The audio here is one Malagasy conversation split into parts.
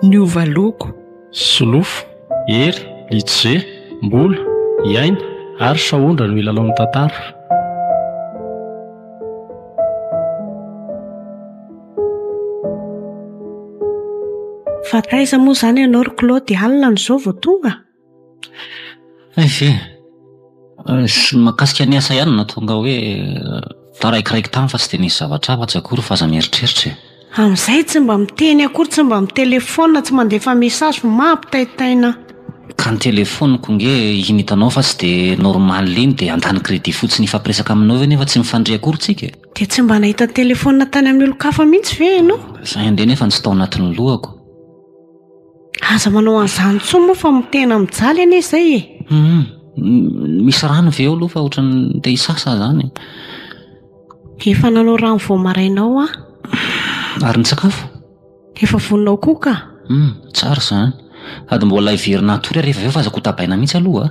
niova loko solofo hery litsze mbola iaina ary sahondra no ilalao ny tantara Fa taiza moa izany ianao ry Claude? Alina amin'izao vao tonga? Aiza e! Tsy ny mahakasika ny asa ihany no nahatonga ahy hoe taraikireky tany fa tsy dia nisy zavatra hafa atsy akory fa aza mieritreritra e! Amin'izay tsy mba miteny akory, tsy mba mitelefaonina, tsy mandefa message, mampitaitaina ahy! Ka ny telefaoniko ange iny hitanao fa tsy dia normal iny dia handany crédit fotsiny hifampiresaka aminao eo nefa tsy mifandre akory tsika e! Dia tsy mba nahita telefonina tany amin'ny olon-kafa mihitsy ve ianao? Izay indray nefa no tsy tao anatin'ny lohako. Aza manao an'izany intsony moa fa mitena mijaly anie izay e! Humm, misy rano ve eo aloha fa ohatran'ny te hisasa aho izany e! Efa nanao rano vao maraina ao aho. Ary ny sakafo? Efa vonona ao koa ka! Humm, tsara izany. Sady mbola hiverina hatory hariva avy eo fa aza kotabaina mihitsy aloha a!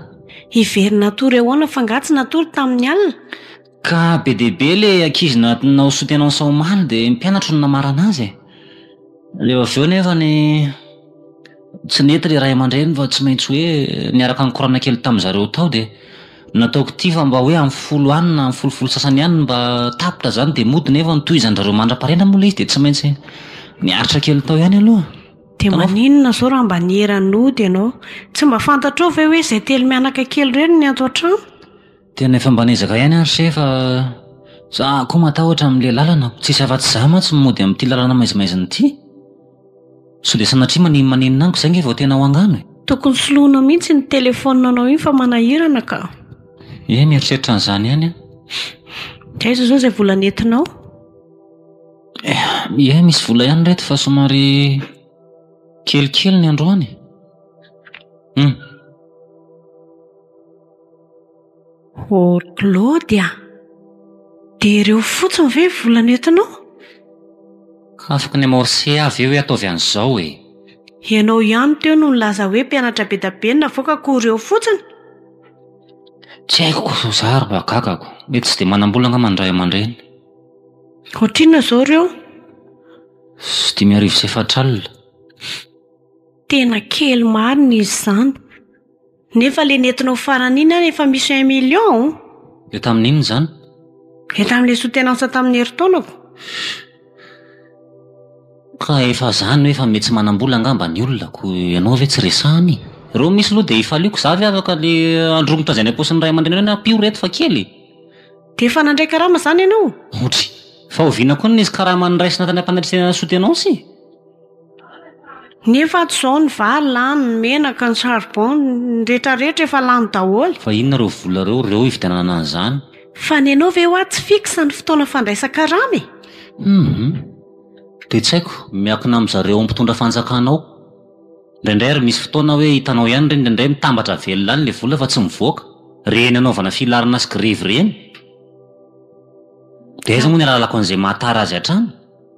Hiverina hatory ahoana fa angaha tsy natory tamin'ny alina? Ka be dia be ilay ankizy natinao sy tena sao omaly dia mpianatro no namarana azy e. Dia avy eo nefa ny tsy nety ilay ray aman-dreny fa tsy maintsy hoe niaraka nikorana kely tamin'ny zareo tao dia nataoko ity fa mba hoe amin'ny folo any na amin'ny folofolo sasany any mba tapitra izany dia mody nefa notohizan-dry mandra-pahariana moa ilay izy dia tsy maintsy niaritra kely tao ihany aloha. Dia maninona izao raha mba niera-nody ianao? Tsy mba fantatrao ve hoe izay telo mianaka kely ireo no nianto an-trano? Tena efa mba niezaka ihany ary se fa za koa matahotra amin'ilay lalana. Tsisy afa-tsy za mantsy no mody amin'ity lalana maizimaizina ity. Sao dia sanatria maninomaninona amiko izay ange vao tena ho angano e! Tokony soloina mihitsy iny telephone anao iny fa manahirana ka! Ie, mieritreritra an'izany ihany aho. Dia aiza izao izay vola nentinao? Ie, misy vola ihany ry reto fa somary kelikely ny androany e! Humm. Ô ry Claude a! Dia ireo fotsiny ve ny vola nentinao? Afaka ny amorcer aho ve hoe ataovy an'izao e! Ianao ihany teo no nilaza hoe mpianatra be dia be no navoaka koa ireo fotsiny? Tsy haiko kosa fa za ary mba gagako. Mety tsy dia manam-bola angamba ny ray aman-dreny. Ohatrinona izao ireo? Sy dimy arivo sy efatra alina. Tena kely marina izy izany. Nefa le nentinao farany iny ary efa misy un million an! Dia tamin'inona izany? Dia tamin'ilay soutenance tamin'ny herintaonako. Ka efa izany hoe efa mety tsy manam-bola angamba ny olona, koa ianao ve tsy resahana e? Ireo misy aloha dia ifaliako, izaho ve afaka le androy mitazay any am-paosin'ny ray aman-dreniny hoe na ampio ireto fa kely e! Dia efa nandray karama izany ianao? Ohatry, fa oviana koa ny nisy karama noraisina tany am-panatrisihana ny soutenance e? Nefa ato izao ny vary lany, ny menaka, ny charbon, ny rehetra rehetra efa lany daholo. Fa inona ireo vola ireo reo hividianana an'izany? Fa ny anao ve hoa tsy fixe ny fotoana fandraisan-karama e? Hum. Dia tsy haiko, miankina amin'ny zareo mpitondra fanjakana ao. Indraindray ary misy fotoana hoe hitanao ihany ireny indraindray mitambatra velona any ilay vola fa tsy mivoaka. Ireny anaovana filarana sy grevy ireny. Dia aiza moa ny ahalalako an'izay mahatara azy hatrany?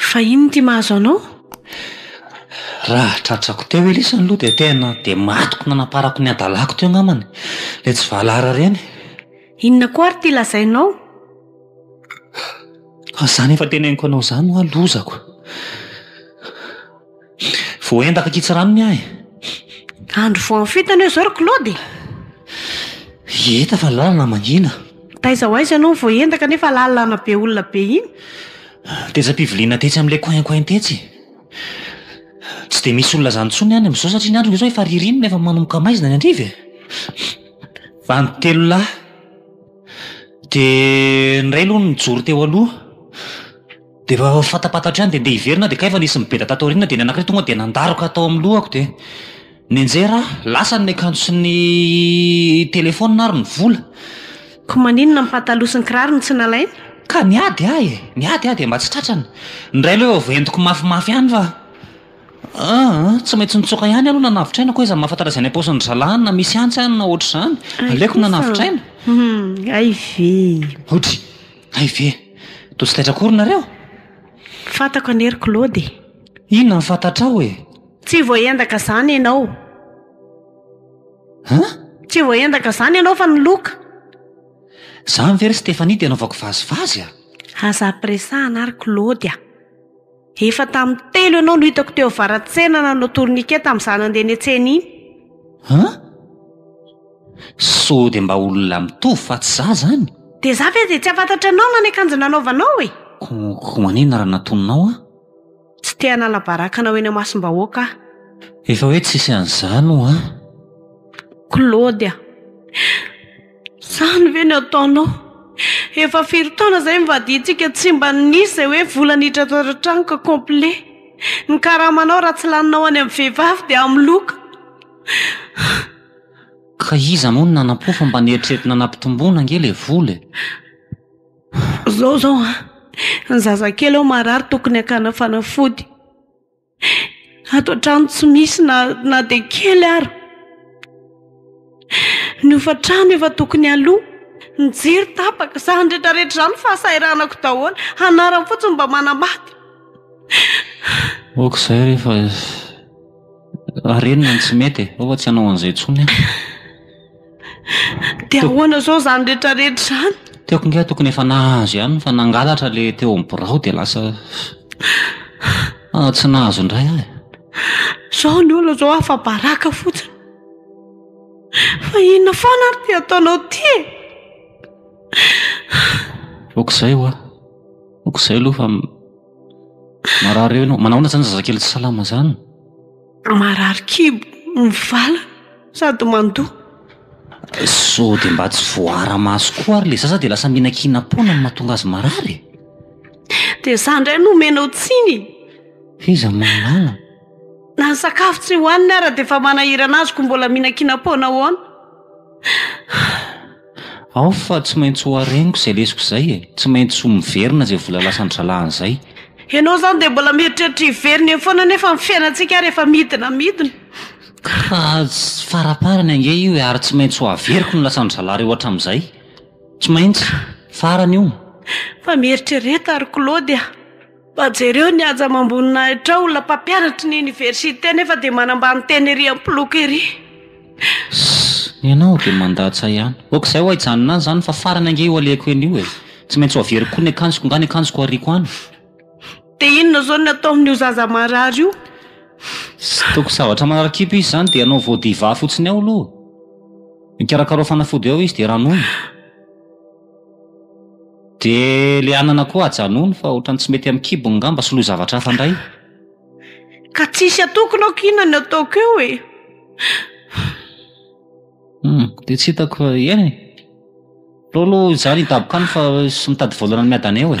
Fa inona ity mahazo anao? Raha tratrako teo ve lesy ny loha dia tena dia matiko nanaparako ny hadalako teo angambany. Ilay tsy valahara ireny. Inona koa ary ity lazainao? Fa izany efa teneniko anao izany hoa lozako. Voaendaka an-kitsirano ny ahy. Andro voahafoitana eo izao ry Claude e! Hita fa ny lalana mangina. Taiza ho aiza ianao no voaendaka nefa lalana be olona be iny? Tetsy am-piviliana tetsy amin'ilay coin coin tetsy. Tsy dia misy olona izany intsony any amin'izao satria ny andro ve izao efa ririnina efa manomboka maizina any an-driva e! Bandy telo lahy. Dia ny iray aloha nijoro teo aloha. Dia efa fatapatatra ihany dia ndeha hiverina aho dia kay efa nisy nibeda tato aoriana dia ny anankiray tonga dia nandaroka tao amin'ny lohako dia nianjera aho, lasa ny akanjo sy ny telefaonina ary ny vola. Koa maninona ny pataloha sy ny kiraro no tsy nalainy? Ka niady aho e! Niady aho dia mba tsy tratrany. Ny iray aloha efa entiko mafimafy ihany fa aa tsy maintsy nitsoaka ihany aho aloha nanavitraina koa aiza mahafantatra izay any am-paosin'ny zalahy na misy antsy any na ohatr'izany. Aleoko nanavitraina. Hay ve! Otry! Hay ve! Toa tsy taitra akory nareo? Fantako anie ry Claude e! Inona no fantatrao e? Tsy voaendaka izany ianao. An? Tsy voaendaka izany ianao fa ny loka! Izany ve ry Stéphanie dia anaovako vazivazy a! Aza ampiresahana ry Claude a! Efa tamin'ny telo ianao no hitako teo avaratsena nanao tourniquet tamin'izaho nandeha nihetsena iny. An? Sao dia mba olona mitovy fa tsy izaho izany? Dia izaho ve dia tsy hahafantatra anao na ny akanjo nanaovanao e? Koa manina raha natoninao aho? Tsy te hanala baraka anao eny amasom-bahoaka aho. Efa hoe tsisy an'izany ho'a. Claude. Izany ve no ataonao? Efa firy taona izay nivadiantsika tsy mba nisy izay hoe vola nitratra tao an-trano ka complet. Ny karamanao raha tsy laninao any amin'ny vehivavy dia amin'ny loka. Ka iza moa no nanampo fa mba noeritreretina nampitomboina ange ilay vola e? Izao izao an! Ny zazakely ao marary tokony hakana fanafody. Ato an-trano tsy misy na na dia kely ary. Ny hofan-trano efa tokony aloa, ny jiro tapaka, izany rehetra rehetra izany fahasahiranako daholo. Anarany fotsiny mba manambady. Ok izay rehefa ary inona no tsy mety e, ao fa tsy hanao an'izay intsony aho. Dia ahoana izao izany rehetrarehetra izany? Tiako ange tokony efa nahazo ihany fa nangalatra ilay teo amin'ny birao dia lasa ah, tsy nahazo indray aho e. Izao ny olona izao afa-baraka fotsiny. Fa inona foana ary ity ataonao ity e? Okizay hoa. Okizay aloha fa marary eo ianao. Manahoana izany zazakely tsy salama izany? Marary kibo, mivala sady mandoa. Sao dia mba tsy voaara-maso koa ary ilay zaza dia lasa mihinankinam-poana no mahatonga azy marary e? Dia izaho indray no omenao tsiny e! F'iza mahalala? Na ny sakafo tsy hohaniny ara dia efa manahirana azy koa mbola mihinankinam-poana ahoana? Ao fa tsy maintsy ho hareniko izay lesoko izay e! Tsy maintsy ho miverina izay vola lasan'ny zalahany izay. Ianao izany dia mbola mieritreritra hiverina eo foana nefa ny fiainantsika ary efa midina midina. Ka tsy faraparany ange io e! Ary tsy maintsy ho averiko ny lasan'ny zalahy reo hatramin'izay. Tsy maintsy. Farany io. Fa mieritrereta ry Claude a! Fa jereo ny haja amam-boninahitra ao, olona mpampianatry ny oniversite nefa dia manambany tena ery am-poloky ery. Sss! Ianao dia mandatsa ihany. Ok izay ho haijanona any izany fa farany ange io alehako eny io e! Tsy maintsy ho averiko koa ny akanjoko, nga ny akanjoko ariako any? Dia inona izao ny atao amin'io zaza marary io? Tsy tokony zavatra manara-kibo izy izany dia anao voa diva fotsiny ao aloha. Ikarakarao fanafody ao izy dia ranoina. Dia ilay anana koa ajanony fa ohatran'ny tsy mety amin'ny kibony ngamba, soloy zavatra hafa indray. Ka tsisy atokona aho k'inona ny ataoko eo e! Humm, dia tsy hitako fa eny e! Aleo aloha izaho hidaboka any fa sy mitady volana ny miadana eo e!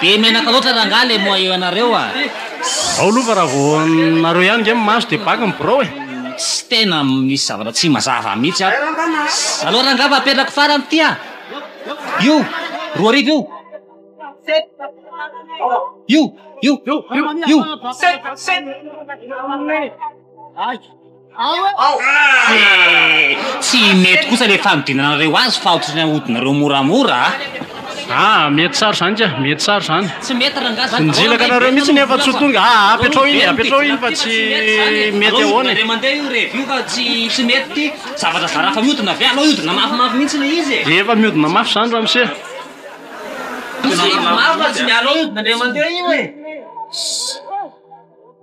Be menaka loatra rangaha le moa eo ianareo a! Ao aloha fa raha vao nareo ihany nge mimaso dia baky ny birao e! Tsy tena misy zavatra tsy mazava mihitsy ato. Aleo rangaha fa apetrako farany ity a! Io! Roa arivo io! Io! Io! Io! Io! Tsy mety kosa le fanodinanareo azy fa otrany ahodinareo moramora a! Ah mety tsara zany ka, mety tsara zany. Tsy mety rangah zany. Nizilaka anareo mihitsy nefa tsy ho tonga ah apetraho iny apetraho iny fa tsy mety ahoana e. Indray mandeha io revy io fa tsy tsy mety ty zavatra zara fa mihodina avy aleo hihodina mafimafy mihitsy le izy e. Efa mihodina mafy zany ramose. Tsy mafy fa tsy miala eo hihodina indray mandeha io e.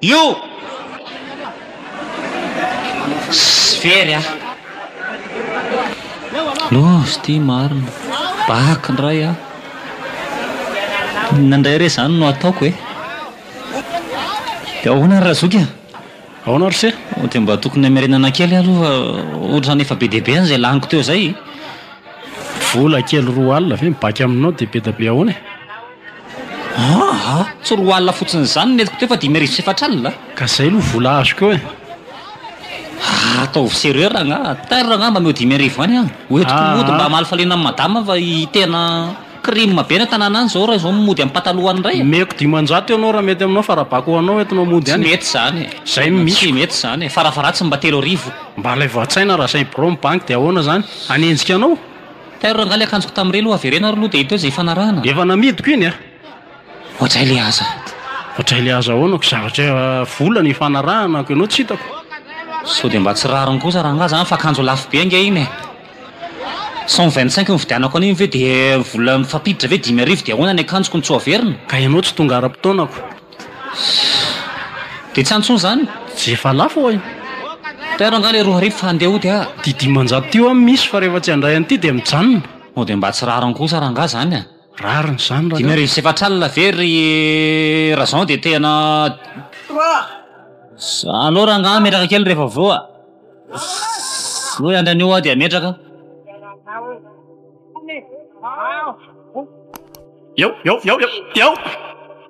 Io! Tsy very an! Love ity marina. Bac ndray an! Inona ndray re zany no ataoko e? Dia ahoana ry Razoky an! Ahoana ry se? Dia mba tokony hamerenana kely aloha fa ohatrany efa be dia be an zay laniko teo zay e! Vola kely roa alina ve mibac aminao dia be dia be ahoana e? Aa! tsy roa alina fotsiny izany ny entiko teo fa dimy arivo sy efatra alina a! Ka izay aloha vola azoko eo e! Aa! ataovy serreur angaha, tar angaha mba omeo dimy arivo ihany an! ho entiko mody mba hamaly faliana an'i madama fa tena crime be ny tanàna any izao raha izao mody amin'ny pataloha any indray e! Omeko dimanjato ianao raha mety aminao fa raha bako ho anao entinao mody any e! Tsy mety izany e! Izay no misy! Tsy mety izany e! Farafaha-ratsiny mba telo arivo! Mba alaivo an-tsaina raha izay birao mibanky dia ahoana izany? Hanenjika anao? Tairo rangahy ilay akanjoko tamin'ireny ho averena ary aloha dia hita eo izay hifanarahana. Efa namidiko iny an! Ohatr'ay le aza. Ohatr'ay le aza ahoana ko zavatra vola no hifanaranako ianao tsy hitako. Sao dia mba tsy rariny kosa rangahy izany fa akanjo lafo be ange iny e! Cent vingt cinq no nividianako an'iny ve dia vola mifampiditra ve dimy arivo dia ahoana ny akanjoko no tsy ho averina? Ka ianao tsy tonga ara-potoanako. Dia tsy antsoina izany? Dia efa lafo oay. Tairo angaha le roa arivo fa handeha hody ah. Ty dimanjato ty oa misy fa rehefa tsy handray an'ity dia mijanona. Sao dia mba tsy rariny kosa rangaha izany ah? Rariny izany rangaha. Dimy arivo sy efatra alina ve ry Razan dia tena Sa aleo rangaha metraka kely rehefa avy eo ah. Sa hoe andry anio aho dia metraka? Eo eo eo eo eo.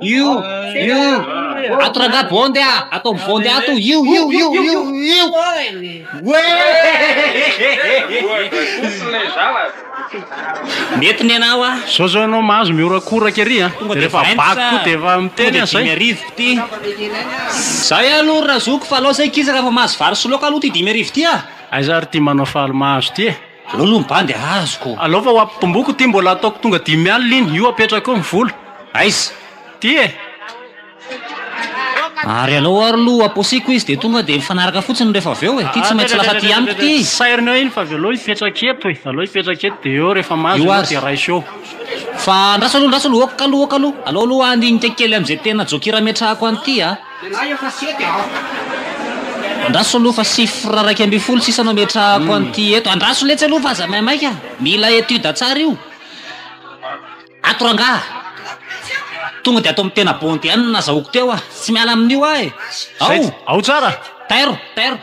Io io ato rangah bonde a ataovy bonde ato io io io io io mety ny anao a Zao zao ianao mahazo mihorakoraka ery a. Tonga dia Rehefa vingt, baky koa dia efa tonga miteny dia dimy an'izay. arivo ity Zay aloha ry Razoko fa alao zay kisa raha efa mahazo vary sy laoka aloha ty dimy arivo ty a. Aiza ary ty manao faly mahazo ty e. Aleo aloha ny bandy azoko. Alao fa ho ampibomboko ity mbola ataoko tonga dimy alina iny, io apetrako eo ny vola. Aiza? Ty e! Ary alao ary aloha aposiko izy dia tonga dia mifanaraka fotsiny rehefa avy eo e! Ty tsy maintsy lasa aty amiko ty! Sairina eo iny fa avy eo alao hipetraka eto e! Alao hipetraka eto dia eo rehefa mahazo Io ianao aza. dia raiso eo. Fa andraso aloha, andraso aloha, ok aloha, ok aloha. Alao aloha handinika kely amin'izay tena jokira ametrahako an'ity a! Andraso aloha fa chiffre iraika ambin'ny folo sisa no ametrahako an'ity eto. Andraso letsy aloha fa aza maimaika. Mila étude tsara io. Ato rangaha. Tonga dia ato amin'ny tena bondy ihany no nazahoako teo aho. Tsy miala amin'io aho e. Ao! Ao tsara. Tairo, tairo.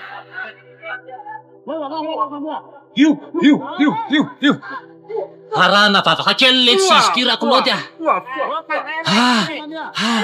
Io, io, io, io, io. Varahana vavaka kely letsy izy ity raha kolaoty a. Ah, ah.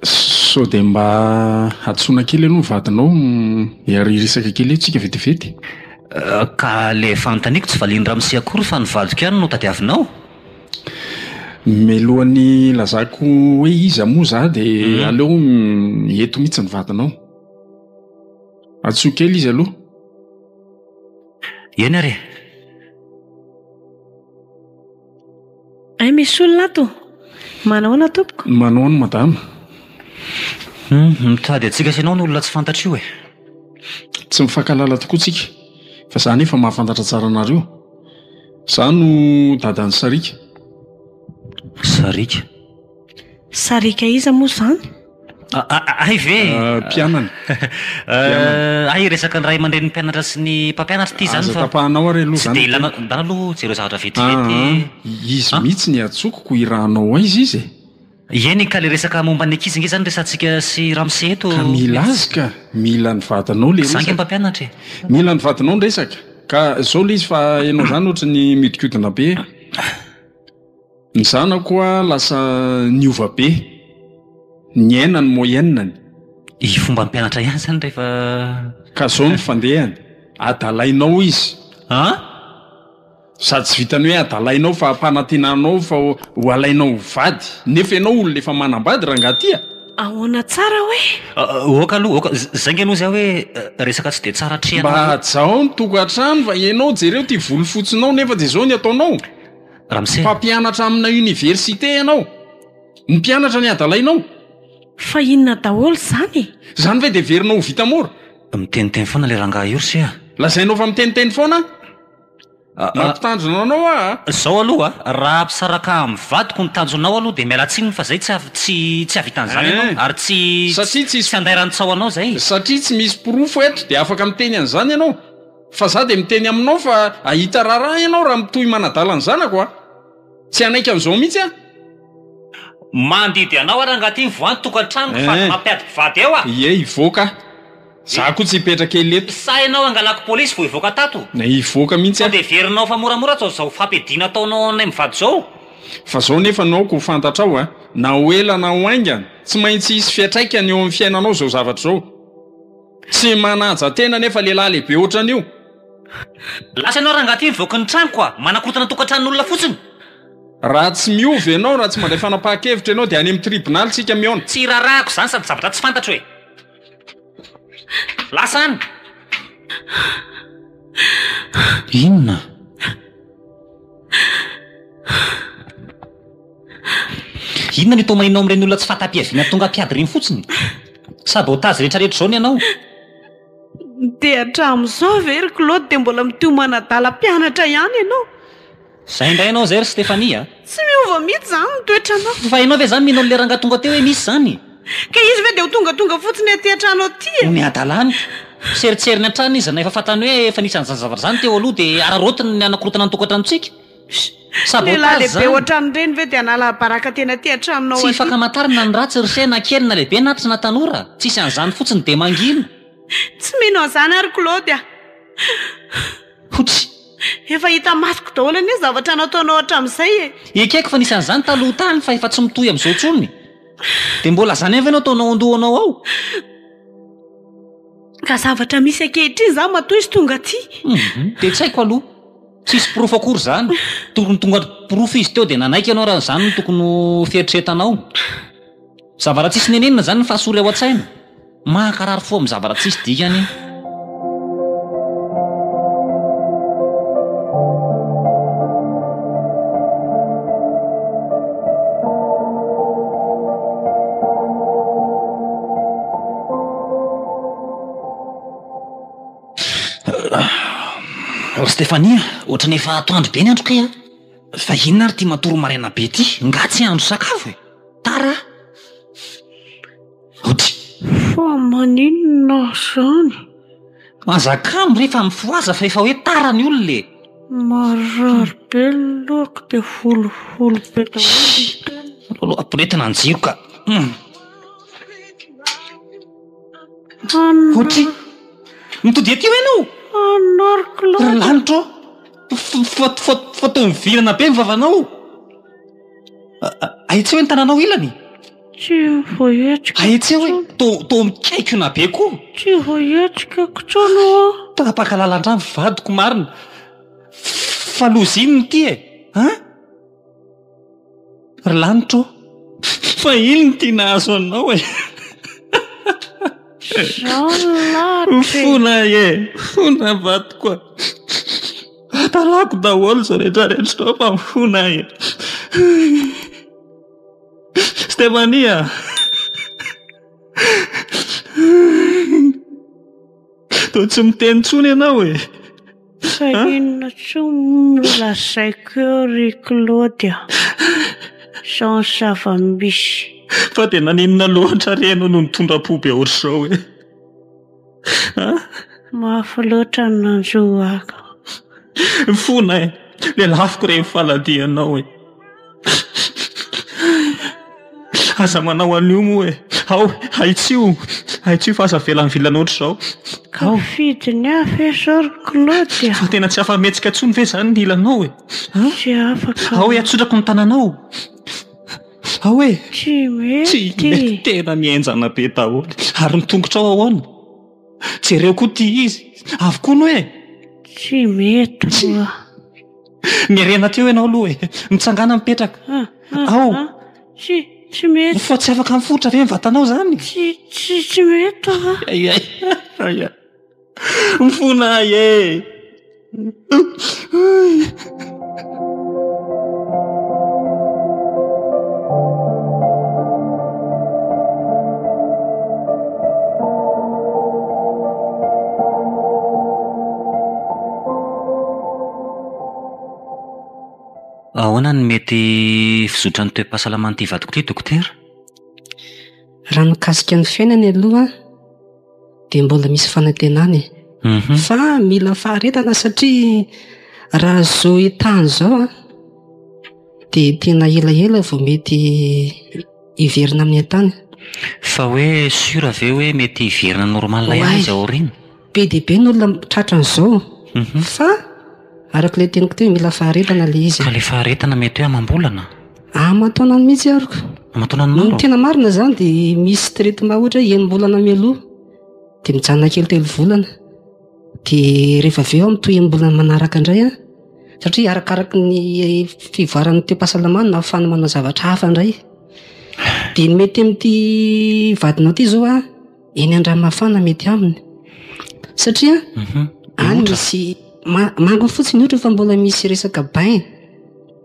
Sao dia mba hantsoina kely aloha ny vadinao hiaria resaka kely eo tsika vetivety? Ka le fanontaniako tsy valian'i ramose akory fa ny vadiko ihany no tadiavinao? Mialohan'ny hilazako hoe iza moa za dia aleo eto mihitsy ny vadinao. Antsoy kely izy aloha. Eny ary e. Hay misy olona ato! Manahoana tompoko? Manahoana madama? Humm, mitady antsika sy ianao no olona tsy fantatra io e! Tsy mifankahalala tokoa tsika fa za anefa mahafantatra tsara anareo. Za no dadan'i Sariaka. Sariaka? Sariaka iza moa izany? Ahy ve e? Mpianany. Ahy resaka ny ray aman-drenin'ny mpianatra sy ny mpampianatra ity izany fa. Aza tapahanao ary aloha izany. Tsy dia ilana, ndana aloha jereo zavatra vetivety. Izy mihitsy no iantsokiko hirahanao aiza izy e? Eny ka ilay resaka momba ny ankizy ange izany resahantsika sy ramose eto. Ka mila azy ka, mila ny vadinao ilay resaka. Za ange mpampianatra e. Mila ny vadinao ny resaka. Ka izao ilay izy fa ianao izany ohatran'ny mihodinkodina be e. Ny zanako a lasa niova be, niaina ny moyenne-ny. I fomba mpianatra ihany zany rehefa. Ka zao ny fandehany, adalainao izy. An? Sady tsy vitan'ny hoe adalainao fa ampanantenanao fa ho alainao ho vady. Nefa ianao olona efa manambady rangaha ty a! Ahoana tsara hoe? Oka aloha, oka, zay nge aloha zay hoe resaka tsy dia tsara atrehanao. Mba hajao ny tokantrano fa ianao jereo ty volofotsinao nefa dia zao ny ataonao. Ramse. Mpampianatra amina université ianao? Ny mpianatra ny adalainao? Fa inona daholo izany e? Izany ve dia heverinao ho vita mora? Miteniteny foana ilay rangahy io Ramse a! Lazainao fa miteniteny foana aho? Mampitandrina anao aho a! Izao aloha a, raha hampisaraka amin'ny vadiko ny tanjonao aloha dia miala tsiny fa izay tsy tsy tsy hahavitan'izany ianao Eh! ary tsy Satria tsy tsy handay rantsaho anao izay. Satria tsy misy porofo eto dia afaka miteny an'izany ianao? Fa za dia miteny aminao fa ahita raharaha ianao raha mitohy manadala ny zanako a! Tsy hanaiky an'izao mihitsy aho. Mandidy anao aho rangahy ty mivoaha ny tokantranoko fa aza mampiady mpivady eo a! Ie hivoaka aho. Za koa tsy hipetraka ela eto. Sa ianao hangalako polisy vao hivoaka tato? Hivoaka mihitsy aho. Sao dia heverinao fa moramora atao izao fampiadiana ataonao anay mivady izao? Fa zao nefa no aoka ho fantatrao a! Na ho ela na ho haingana, tsy maintsy hisy fiantraikany eo amin'ny fiainanao izao zavatra izao. Tsy manaja tena nefa lehilahy lehibe ohatran'io. Lasa ianao rangahy ty mivoaka ny tranoko a! Manakotana tokantranon'olona fotsiny. Raha tsy miova ianao, raha tsy mandray fanapahan-kevitra ianao dia any amin'ny tribonaly isika mihaona. Tsy iraharahako izany sady zavatra tsy fantatro e! Lasa any! Inona? Inona no itomahinao amin'ireny olona tsy fahatapiaviana tonga mpiady ireny fotsiny? Sabotage rehetrarehetra izao ny anao! Dia hatramin'izao ve ry Claude dia mbola mitohy manadala mpianatra ihany ianao? Izay indray ianao izay ry Stéphanie a! Tsy miova mihitsy izany ny toetranao! Fa ianao ve izany mino an'ilay rangahy tonga teo hoe misy izany? Ka izy ve dia ho tongatonga fotsiny aty an-trano aty e? Omeo adala amiko! Seritseriny hatrany izy na efa fantany hoe efa nisy an'izany zavatra izany teo aloha dia araraotiny ny hanakorontana ny tokantranontsika! Lehilahy lehibe ohatran'ireny ve dia hanala baraka tena aty an-tranonao aty? Tsy fakamantarana na ny ratsy ry se na kely na lehibe na tsy na tanora. Tsisy an'izany fotsiny dia mangina. Tsy mino an'izany aho ry Claude a! Huts. Efa hita masoko daholo anie ny zavatra nataonao hatramin'izay e! Ekeko fa nisy an'izany taloha tany fa efa tsy mitohy amin'izao intsony. Dia mbola izany ihany ve no ataonao an-dohanao ao? Ka zavatra misy ankehitriny izany matoa izy tonga aty. Dia tsy haiko aloha. Tsisy porofo akory izany. Tokony tonga porofo izy teo dia nanaiky ianao raha izany no tokony ho fieritreretanao. Zavaratsisy nenenina izany ny fahasory ao an-tsaina. Mankarary fo amin'ny zavaratsisy dikany. Ry Stefania, ohatran'ny efa atoandro be ny andro kay a! Fa inona ary ity matory maraina be ity? Nga tsy hahandro sakafo e! Tara a! Hody. Fa maninona aho izany? Aza kamo re fa mifohaza fa efa hoe tara ny olona e! Marary be ny lohako dia holiholy be daholo ny tenako. Aloha aporetina ny jiro ka. Otri. Mitody aty hoy ianao? Ry lanitra ô! Fa toa mivirana be ny vavanao. Ahitseo ny tananao ilany. Ahitseo e! Toa mikaikona be koa. Tsy voahetsika intsony ô! Tapaka lalandrà ny vadiko marina. Fa loza inona ity e? An? Ry lanitra ô! Fa iny no tiana hahazo anao e! Jean lalitra e! Fona e! Fona vadiko a! Atalako daholo izao rehetra rehetra izao fa mifona aho e! Stéphanie a! Toa tsy miteny intsony ianao e! Fa inona tsoa moa no lazaiko eo ry Claude a! Izao ny zava-misy. Fa dia naninona loatra re ianao no nitondra-po be ohatr'izao e? An? Mafy loatra ny nanjo ahy ka. Fona e! Lelafiko re ny faladianao e! Aza manao an'io moa e! Ao, ahitsio! Ahitsio fa aza avela mivilana ohatr'izao. Ao! Mifidy ny hafa e zao ry Claude a! Fa tena tsy afa-mihetsika intsony ve izany ny ilanao e? Tsy afaka aho. Ao e, atsodrako ny tananao! Ao e! Tsy mety! Tsy mety! Tena mihenjana be daholo. Ary ny tongotrao ahoana? Jereo koa ity izy! Avy koa ny hoe! Tsy mety ho'a! Miarena teo ianao aloha e. Mitsangàna mipetraka. Ah, ah, Ao. ah. Tsy, tsy mety. Mifoha tsy afaka mifotra ve ny vatanao izany? Tsy, tsy, tsy mety ah. Ay, ay. Ay, ay. Mifona ahy e. Ahoana no mety fizotran'ny toe-pahasalaman'ity vadiko ity dokotera? Raha mikasika ny fiainany aloha dia mbola misy fanantenana e. Fa mila faharetana satria raha izao état-ny izao an, dia tena elaela vao mety hiverina amin'ny état-ny. Fa hoe sûr ve hoe mety hiverina normal ihany izy ao aoriana? Be dia be ny olona tratra an'izao fa araka ilay teniko teo mila faharetana ilay izy. Fa ilay faharetana mety hoe amam-bolana? Aman-taonany mihitsy ary ka. Aman-taonany maro? Ny tena marina izany dia misy traitement ohatra hoe enim-bolana mialoha dia mijanona kely telo volana. Dia rehefa avy eo amin'ny toy enim-bolana manaraka indray an, satria arakaraky ny fivoaran'ny toe-pahasalamany no ahafahany manao zavatra hafa indray. Dia ny mety amin'ity vadinao ity izao an, eny andranomafana mety aminy satria mhm. any misy mango fotsiny ohatra fa mbola misy resaka bain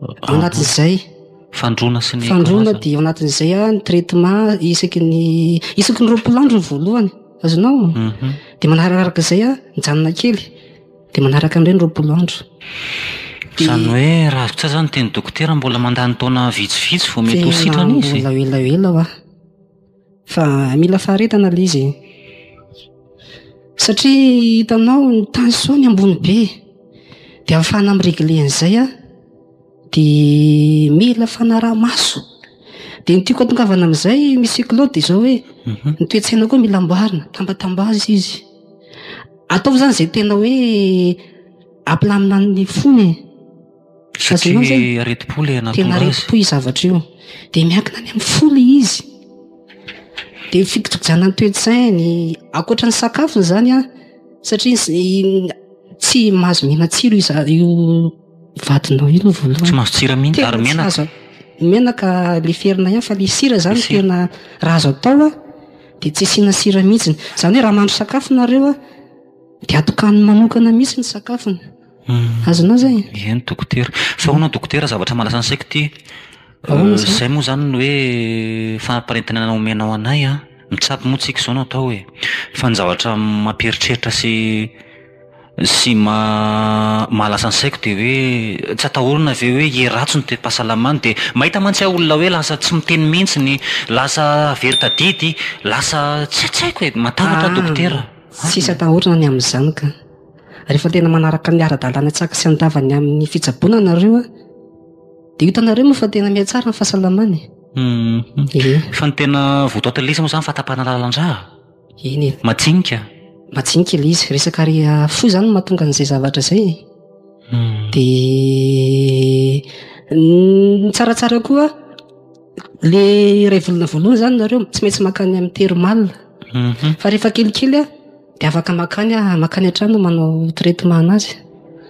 ah, anatin'izay fandrona sy ny fandrona dia ao anatin'izay a ny traitement isaky ny isaky ny roapolandro ny voalohany azonao mhm. dia manararaka izay a mijanona kely dia manaraka an'irey ny roapolandro zany hoe ravitsa zany teny dokotera mbola mandany taona vitsivitsy vao mety ho sitrana izy elaelaela a Fa mila faharetana ilay izy e. Satria hitanao ny tension-ny ambony be. Dia ahafahana mi-regler an'izay an, dia mila fanaraha-maso. Dia ny tiako atongavana amin'izay Monsieur Claude dia izao hoe, mhm. ny toe-tsaina koa mila amboarina, tambatambaza izy. Ataovy izany izay tena hoe ampilamina ny fony e. Satria aretim-po ilay nahatonga azy. Tena aretim-po io zavatra io. Dia miankina any amin'ny fo ilay izy. Dia ny fikojakojanan'ny toe-tsainy, ankoatra ny sakafony izany an, satria tsy mahazo miana tsiro io vadinao io aloha voalohany. Tsy mahazo tsira mihitsy ary menaka. Ny menaka leferina ihany fa ilay sira izany tena raha azo atao an, dia tsy asiana sira mihitsy. Izany hoe raha mahandro sakafo nareo an, dia atokaniny manokana mihitsy ny sakafony. Azonao zay? Eny dokotera. Fa ahoana dokotera zavatra malaza ansaiko ity? Izay moa izany ny hoe fanaparitahana omenao anay an, mitsabo moa tsika izao no atao e. Fa ny zavatra mampieritreritra sy sy ma- mahalasa ansaiko dia hoe tsy atahorana ve hoe hiheratsy ny toe-pahasalamany dia mahita mantsy aho olona hoe lasa tsy miteny mihitsy ny, lasa very tadidy, lasa tsy haiko e, matahotra aho dokotera. Tsisy atahorana ny amin'izany ka. Rehefa tena manaraka ny ara-dalàna tsy akasy an-dava ny amin'ny fitsaboana nareo dia hitanareo moa fa tena mihatsara ny fahasalamana e. Ie. Fa ny tena votoatin'ny lisy moa izany fahatapahana lalan-drà. Eny e. Majinika. Majinika ilay izy. Resaka ary fo izany no mahatonga an'izay zavatra izay e. Dia ny tsaratsara koa ilay iray volana voalohany izany nareo tsy maintsy mankany amin'ny termal. Fa rehefa kelikely an. Dia afaka makany ah, makany an-trano manao traitement anazy.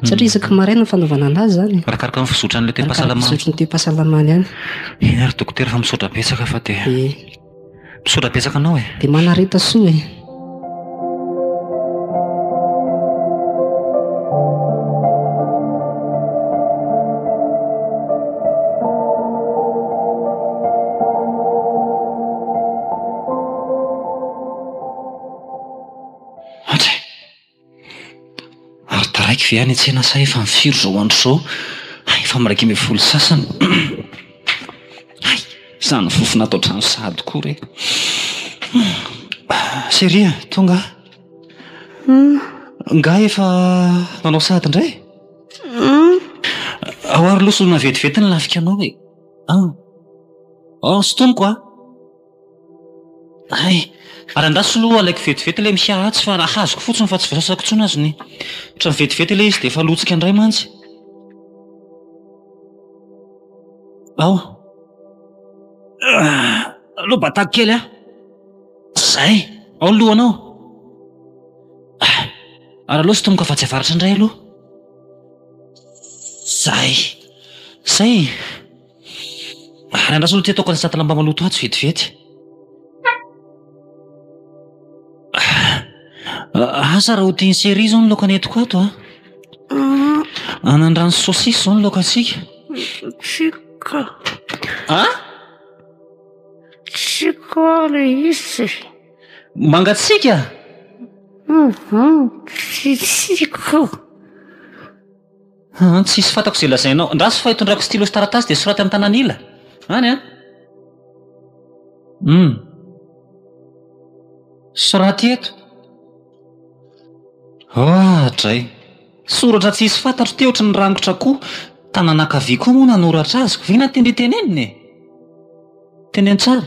Satria hmm. isaky maraina ny fanaovana anazy zany. Arakaraka ny fizotran'ilay toe-pahasalamana. Fizotran'ny toe-pahasalamana ihany. Eny ary dokotera fa misaotra betsaka fa dia. Eh. Misaotra betsaka anao e. Dia manareta soa e. Andry! Ary taraiky ve any an-tsena sa efa amin'ny firy izao andro izao? Hay, efa amin'ny iraika ambin'ny folo sy sasany. Hay, izany fofona ato an-trano sahady koa re. Chérie a, tonga aho. Angaha efa nanao sahady indray? Ahoa ary loha solona vetivety ny lafikanao e? An! An, sintoniko an! Hay! Ary angaha tsy lo alaiko vetivety ilay mihiaha atsy fa raha hazoko fotsiny fa tsy voasasako intsony aza ny. Ohatran'ny vetivety ilay izy dia efa lotsika indray mantsy. Ao! Aleo batako kely an! Izay! Ao ny lohanao! Ary aleo sotomiko afatsy avaratra indray aloha. Izay! Izay e! Ary andraso ny tetoko ny satan'lamba maloto atsy vetivety. Asa raha ho tian'i Seri izao ny laoka nentiko ato a. Ah. Anandrano sy saosisy izao ny laokantsika. Tsika. A? Tsika le izy. Mangatsika? Mhm. Tsitsika. Haa tsisy fantako izay lazainao. Andraso fa itondrako stylo sy taratasy dia soraty amin'ny tanan'ila. Any an! Hum. Soraty eto. Haa dray. Soratra tsisy fantatro teotry ny rangotra koa. Tanana ankavia koa moa nanoratra azy. Vina tendry tenenina e! Teny an-tsary.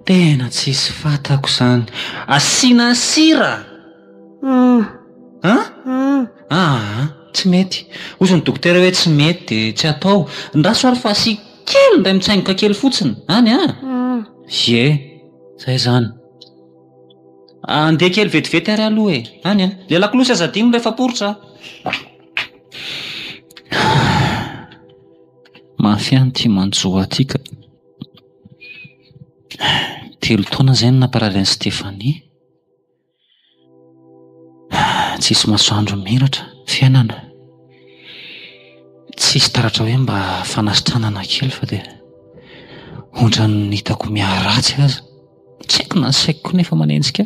Tena tsisy fatako izany. Asiana sira! An? Aa, tsy mety. Hozy ny dokotera hoe tsy mety dia tsy atao. Andraso ary fa asiako kely indray mitsaingoka kely fotsiny. Any an? Ie, izay izany. Andeha kely vetivety ary aloha e. Any an? Ilay lakolosy aza adino rehefa poritra. Mafy ihany ity manjo ahy ity ka. Telo taona izay no namparary an'i Stephanie. Tsisy masoandro miratra ny fiainana. Tsisy taratra hoe mba fanasitranana kely fa dia ohatran'ny hitako miharatsy aza. Tsy haiko na ny saiko koa nefa manenjika.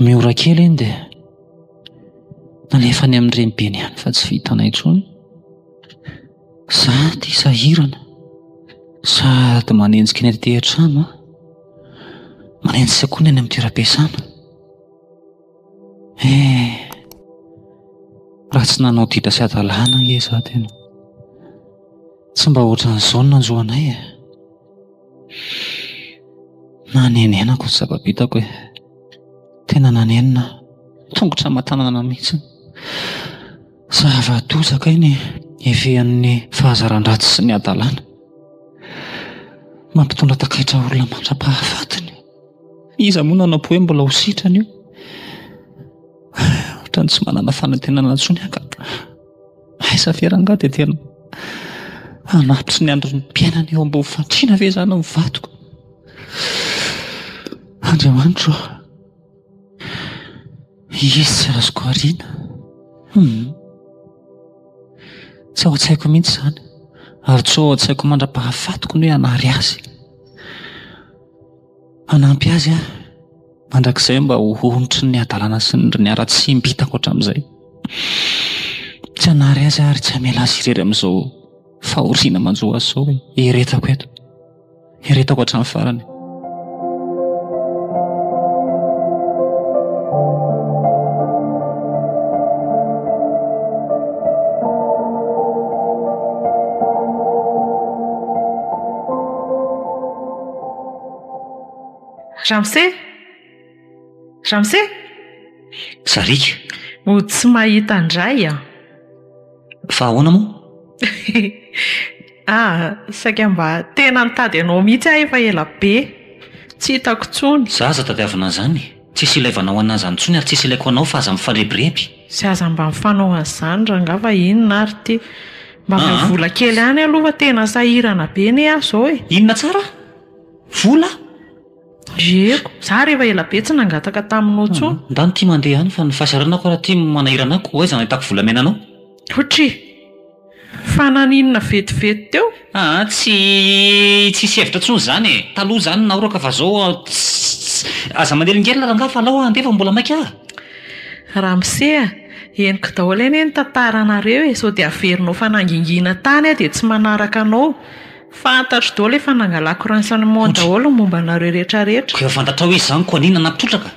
Miora kely iny dia nalefany amin'ny renibeny ihany fa tsy vitanay intsony. Za ty sahirana sady manenjika ny aty an-trano an, manenjika koa ny any amin'ny toeram-piasana. Eh, raha tsy nanao ditra sy hadalana ange izaho tena. Tsy mba ohatran'izao ny nanjo anay e. Nanenenako ny zava-bitako e. Tena nanenina aho. Tongotra aman-tanana mihitsy. Zava-doza kay ny hifehan'ny fahazaran-dratsy sy ny hadalana. Mampitondra takaitra olona mandra-pahafatiny. Iza moa no hanampo hoe mbola ho sitrana io? Ohatran'ny tsy manana fanantenana intsony aho ka. Aiza ve rangaha dia tena hanatitry ny andron'ny mpiainana eo ambony fandriana ve izany ny vadiko? Andriamanitro ô! Izy tsy azoko ariana. Tsy ao an-tsaiko mihitsy izany ary tsy ao an-tsaiko mandra-pahafatiko ny hoe hanary azy. Hanampy azy aho mandrakizay mba ho ontry ny hadalana sy ny haratsiam-by hitako hatramin'izay. Tsy hanary azy aho ary tsy hamela azy irery amin'izao fahoriana manjo azy izao e. Eretako eto. Eretako hatramin'ny farany. Ramose? Ramose? Sariaka. Mody tsy mahita an-dray an. Fa ahoana moa? ah, saika mba tena nitady anao mihitsy aho efa ela be. Tsy hitako intsony. Za aza tadiavina an'izany. Tsisy ilaivana ho an'azy any intsony ary tsisy ilaiko anao fa aza mifarebireby. Tsy aza mba mifanao an'izany rangah fa inona ary ity? Mba avy amin'ny vola kely any aloha fa tena sahirana be anie aho izao e! Inona tsara? Vola? Yeko, za rehefa ela be tsy nangataka taminao intsony. Ndany ity mandeha any fa ny fahasahiranako ary ity manahirana ahy koa aiza no ahitako volamena anao? Otry! Fa naninona vetivety teo? Aa tsy tsisy hevitra tsony zany e! Taloha zany naoroka fa zao tsss aza manelingelina rangah fa alao handeha fa mbola maika ah! Ramose a, henoko daholo anie ny tantaranareo e, sao dia averinao fanangingina tany aho dia tsy manaraka anao. Fantatro daholo efa nangalako renseignement daholo ny momba anareo rehetrarehetra. Koa efa fantatrao izy izany koa an'inona nampitrotraka?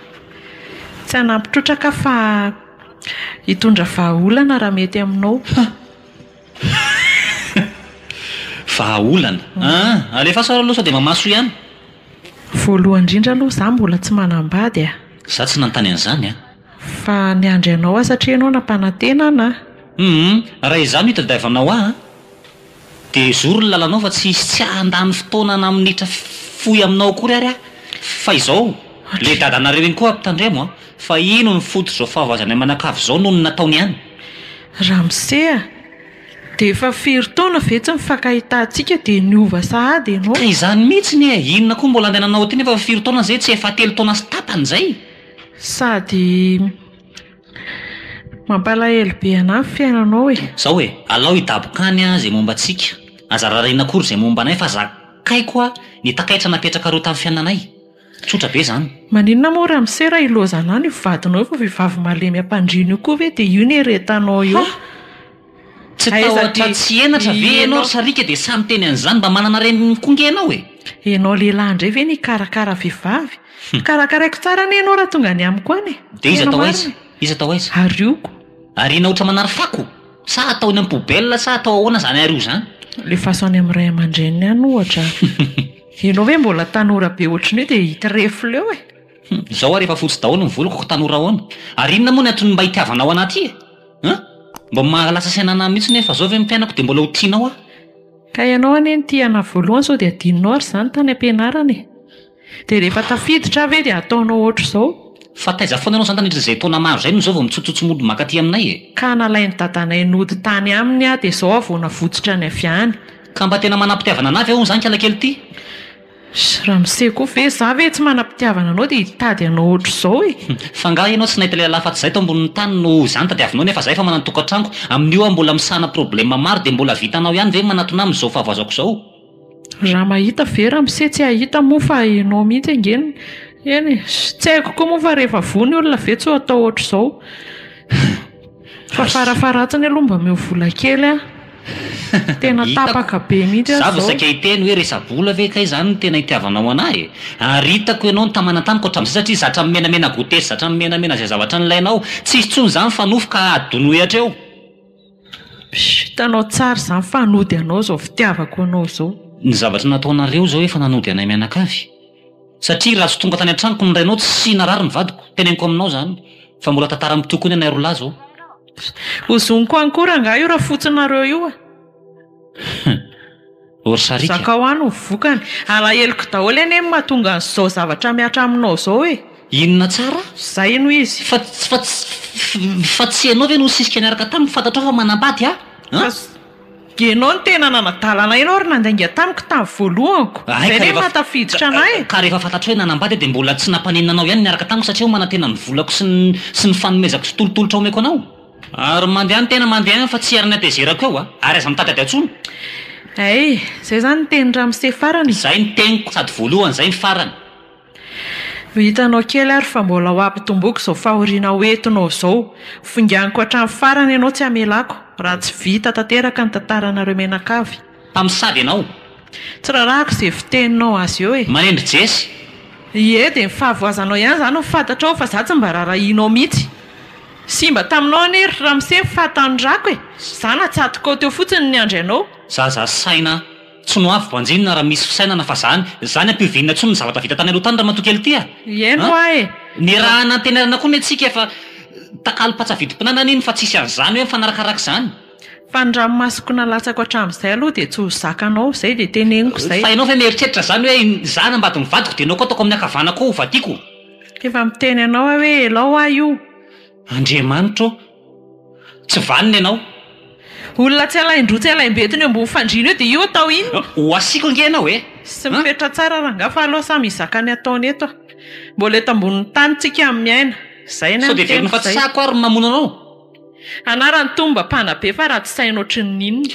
Tsy hanampitrotraka fa. Hitondra vahaolana raha mety aminao. Vahaolana? Aa! Alefaso ary aloha sao dia mamaso ihany. Voalohany indrindra aloha izaho mbola tsy manambady a! Izaho tsy nanontany an'izany an! Fa niandry anao aho satria ianao nampanantena an! Humm! Raha izaho no hitadiavanao ahy an! Dia hizoro ny lalanao fa tsy hisy tsy handany fotoana na minitra fohy aminao akory ary aho. Fa izao, ilay dadanareo iny koa ampitandremo an! Fa ino no fototr'izao fahavazany aman'akavy izao noho ny nataony any? Ramose a! Dia efa firy taona ve tsy nifankahitantsika dia niova sahady ianao? Ka izany mihitsiny e! Inona koa mbola andehananao aty nefa efa firy taona izay? Tsy efa telo taona sy tapany izay? Sady Mampalahelo be anah ny fiainanao e! Zao e, alao hidaboka any an ze momba antsika, aza rarina akory ze momba anay fa zakaiko an ny takaitra napetraka roa tam fiainanay. Tsotra be zany. Maninona moa ramose raha ilozanao ny vadinao io fa vehivavy malemy ampandriana io koa ve dia io no eretanao eo? Tsy tahotra tsy henatra ve ianao ry sariaka dia sahy miteny an'izany? Mba manana reniny koa ange ianao e! Ianao lehilahy indray ve no hikarakara vehivavy? Karakaraiko tsara anie ianao raha tonga any amiko any e! Dia iza tao aiza? Iza tao aiza? Arioko. Ariana ohatra manary fako? Sa atao eny am-poubelle sa atao ahoana izany ario izany? Lefaso any amin'ny ray aman-dreniny any ohatra. Ianao ve mbola tanora be ohatry ny hoe dia hitrefy leo e! Izao ary efa fotsy daholo ny voloko ka tanora ahoana? Ary inona moa ny antony mba hitiavanao an'aty e? An! Mba maha lasa saina anah mihitsy nefa zao ve ny mpianako dia mbola ho tianao aho? Ka ianao anie no tia anah voalohany sao dia adinonao ary izany tany am-pianarana e! Dia rehefa tafiditra aho ve dia ataonao ohatr'izao? Fa taiza foana ianao izany tandritr'izay taona maro izay no izao vao mitsotsotso mody mankaty aminay e! Ka nalain'i dadanay nody tany aminy aho dia izao aho vao navotsotra ny avy any. Ka mba tena manam-pitiavana anah ve hono izany kialakely ity? Ry ramose koa ve za ve tsy manam-pitiavana anao dia hitady anao ohatr'izao e! Fa angaha ianao tsy nahita lehilahy afa-tsy zay tao ambonin'ny tany no ho zany tadiavinao nefa zay efa manan-tokantranoko, amin'io aho mbola misahana problème maro dia mbola vitanao ihany ve manatona amin'izao fahavoazako izao? Raha mahita ve ramose tsy hahita moa fa ianao mihitsy ange no eny e! Tsy haiko koa moa fa rehefa voa ny olona ve tsy ho atao ohatr'izao? Fa farafaharatsiny aloha mba omeo vola kely an! Tena tapaka be mihitsy aho zao. Za vao saika hiteny hoe resa-bola ve kay zany no tena itiavanao anahy e! Ary hitako ianao nitamana tamiko hatramin'izay satria zatra mimenamena goûter sy zatra mimenamena izay zavatra nilainao. Tsy hisy intsony izany fa nofy ka hadonoy hatreo. Hitanao tsara izany fa hanody anao izao fitiavako anao izao. Ny zavatra nataonareo izao efa nanody anay mianakavy. satria raha tsy tonga tany an-tranoko ny rainao tsy narary ny vadiko, teneniko aminao izany fa mbola tantara mitia koa ny anay roa lahy izao. Ho zoniko any koa rangahy io rafotsinareo io a! Hum! Ory sariaka! Zakao any ny vokany. Alaheloko daholo anie ny mahatonga an'izao zavatra mihatra aminao izao e! Inona tsara? Izay hono izy. Fa, fa, fa tsy ianao ve no nisisika niaraka taminy, fantatrao fa manambady aho an? Dia ianao no tena nanadala anay ianao ary nandainga tamiko tamin'ny voalohako. Izay ve no maha tafiditra anay? Ka rehefa fantatro hoe nanambady aho dia mbola tsy nampaninona anao ihany ny miaraka tamiko satria manantena ny volako sy ny sy ny fanomezako sy tolotolotra omeko anao? Ary mandeha ny tena mandeha ihany fa tsy ary ny hatezerako eo a! Ary aza mitadiady atsony! Hay! Izay izany ny tenin'i Ramose farany e! Izay ny teniko sady voalohany izay ny farany! Ho hitanao kely ary fa mbola ho ampitomboiko izao fahoriana ho entinao izao. Hofinganiko hatramin'ny farany ianao tsy hamelako, raha tsy vita tanteraka ny tantaranareo mianakavy. Mpamosavy ianao! Tsy rarahako izay fiteninao azy eo e! Maneno ry Jesy! Ie, dia ny fahavoazanao ihany izany no fantatrao fa izaho tsy mba rarahianao mihitsy. Simba taminao anie ry ramose ny fahatanorako e! Izaho natsatokao teo fotsiny ny niandry anao. Zaza saina! Tsy no avy banjinina raha misy fisainana fa zany, zany ampihovinina intsony ny zavatra vita tany aloha tany ramatoa kely ty a! Hieno hoa e! Niarahana antenairana koa ny antsika fa takalo patsa vidim-pinanana iny fa tsisy an'izany hoe mifanarakaraka izany. Fa ny ranomasoko nalatsako hatramin'izay aloha dia tsy ho zakanao, zay dia teneniko izay. Fa ianao ve mieritreritra izany hoe izaho nambady ny vadiko dia ianao koa ataoko amin'ny ankavanako ao ho vadiako? Efa miteny anao aho hoe elao hoa io! Andriamanitra ô! Tsy vanona ianao. Olona tsy alain-droa tsy alaim-betona eo ambony fandriana eo dia io atao inona? Ho asiako ange ianao e! Tsy mifetra tsara rangaha fa aleo samy hizaka ny ataony eto. Mbola eto ambonin'ny tany tsika miaina. Izay ny an'ny tenako izay. Sao dia velon'ny fatisako ary ny mamono anao? Anarany toa mba mpanabe fa ratsy saina ohatrin'ny inona.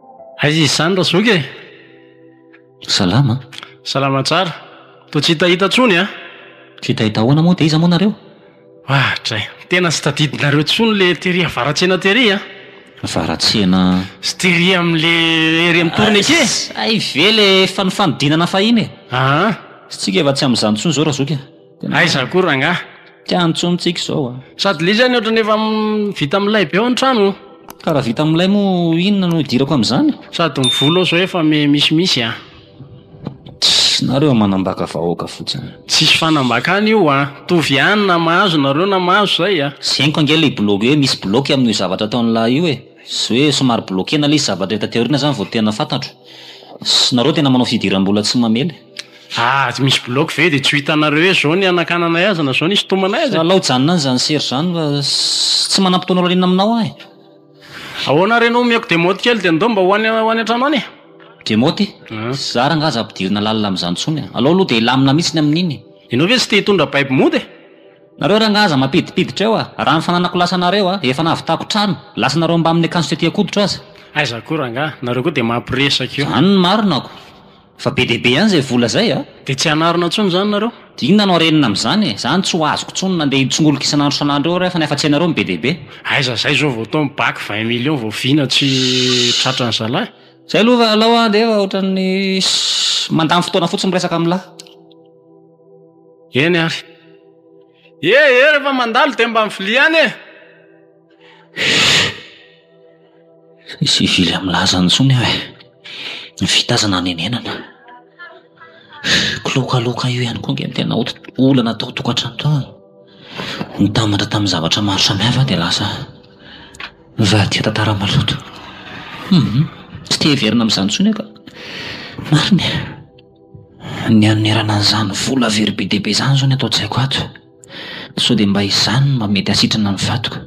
Aiza izy izany Razoky e? Salama. Salama tsara. Toa tsy hitahita intsony an! Tsy hitahita ahoana moa dia iza moa nareo? Ah dray! Tena tsy tadidinareo intsony ilay tery avaratsena tery an! Avaratsena? Sy tery amin'ilay ery amin'ny torony eke! Hay ve ilay efa nifanodinana fahiny e! Aa! Tsy tsika efa tsy amin'izany intsony izao Razoky a! Aiza koa rangahy? Tiany intsony tsika izao a! Sady le izy any ohatrany efa vita milay be ao ny trano o! Ka raha vita milay moa inona no hidirako amin'izany? Sady ny vola ao izao efa misimisy a! Tss! Nareo manambaka vahoaka fotsiny. Tsisy fanambakana io a! Mitovy ihany na mahazo nareo na mahazo izay a! Zeniko ange ilay bilaogy hoe misy bilaoky amin'io zavatra ataon'ilay io e! Sy hoe somary bilaokena ilay izy zavatra hita teo aoriana izany vao tena fantatro. Sy nareo tena manao fidiram-bola tsy mamely. Aah tsy misy block ve de tsy ho hitanareo hoe zao ny hanakananay azy na zao ny hisintomanay azy e! Alao hijanona any izany sery izany fa tsy manam-potoana lalina aminao aho e! Ahoana ary ianao omeko demote kely dia ndao mba ho any ho any an-trano any e! Demote? Za rangahy aza ampidirina lalina amin'izany intsony e! Alao aloha dia hilamina mihitsy ny amin'iny e! Ianao ve tsy te hitondra baby mody e! Nareo rangahy aza mampidipiditra eo a! Raha ny fananako lasa anareo a! Efa nahavitako trano! Lasa anareo mbamin'ny akanjo teteako hoditra aza! Aiza koa rangahy! Nareo koa dia mampiresaka io! Izany no marina ako! Fa be dia be ihany izay vola izay a! Dia tsy hanarina intsony izany nareo? Dia inona no harenina amin'izany e? Izany tsy ho azoko intsony nandeha hitsongolika isan'andro isan'andro eo rehefa ny hafatsy anareo no be dia be. Aiza izay izao vao tao amin'ny bac vingt millions vao vina tsy tratra ny zalahy? Izay aloha fa alao an dia efa ohatran'ny mandany fotoana fotsiny miresaka amin'lah. Eny ary. Ee ee rehefa mandalo dia mba mivilia any e! He! tsy hivily amin'ny lazany intsony aho e! Ny vita aza nanenenana. Kilaokaloka io ihany koa ange no tena olana tao an-tokantrano tao e! Nitambatra tamin'ny zavatra maro samihafa aho dia lasa nivadika tantara maloto. Humm, tsy te hiverina amin'izany intsony aho ka! Marina e! Ny hanerana an'izany vola very be dia be izany izao ny ato an-tsaiko ato. Sao dia mba izany no mba mety hahasitrana ny vadiko.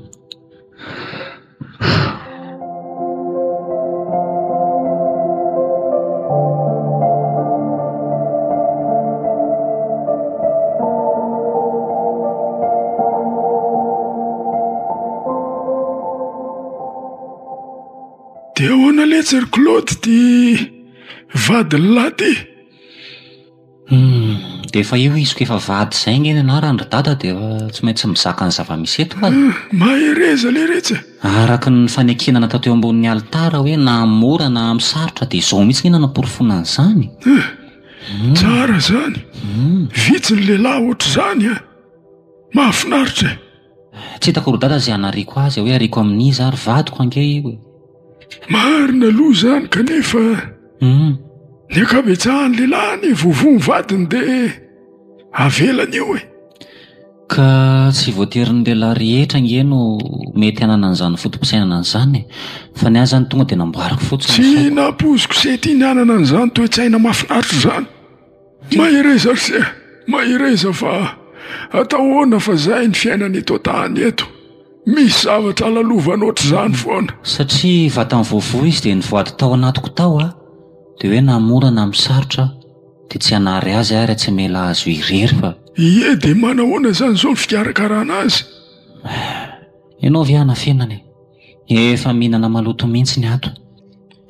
Dia ahoana letsy ry Claude ity Vady lahy ty! Hum, dia efa io izy koa efa vady izay ange ny anarany ry dada dia tsy maintsy mizaka ny zava-misy eto fa. Ah, mahereza ilay retsy e! Araka ny fanekena natao teo ambonin'ny alitara hoe na amin'ny mora na amin'ny sarotra dia izao mihitsy ange no hanaporofoana an'izany. Ah, tsara izany! Vitsy ny lehilahy ohatr'izany an! Mahafinaritra e! Tsy hitako ry dada izay hanariako azy hoe ariako amin'iza ary vadiko ange io e! Marina aloha izany kanefa Humm. Ny ankabetsahan'ny lehilahy anie vovo ny vadiny dia avelany eo e! Ka tsy voatery ny lehilahy rehetra ange no mety hanana an'izany foto-pisainana izany e! Fa ny ahy izany tonga dia namboariko fotsiny ny saiko. Tsy nampoiziko sy tia ny hanana an'izany toe-tsaina mahafinaritra izany. Mahereza ry se! Mahereza fa atao ahoana fa zay ny fiainana eto an-tany eto. Misy zavatra alalovanao ohatr'izany foana. Satria vatany voavoa izy dia nivoady tao anatiko tao aho, dia hoe na mora na misarotra aho dia tsy hanary azy ary tsy hamela azy irery fa. Ie dia manahoana izany izao ny fikarakarana azy? Ianao ve hanafenana e? Efa mihinana maloto mihitsy ny ato.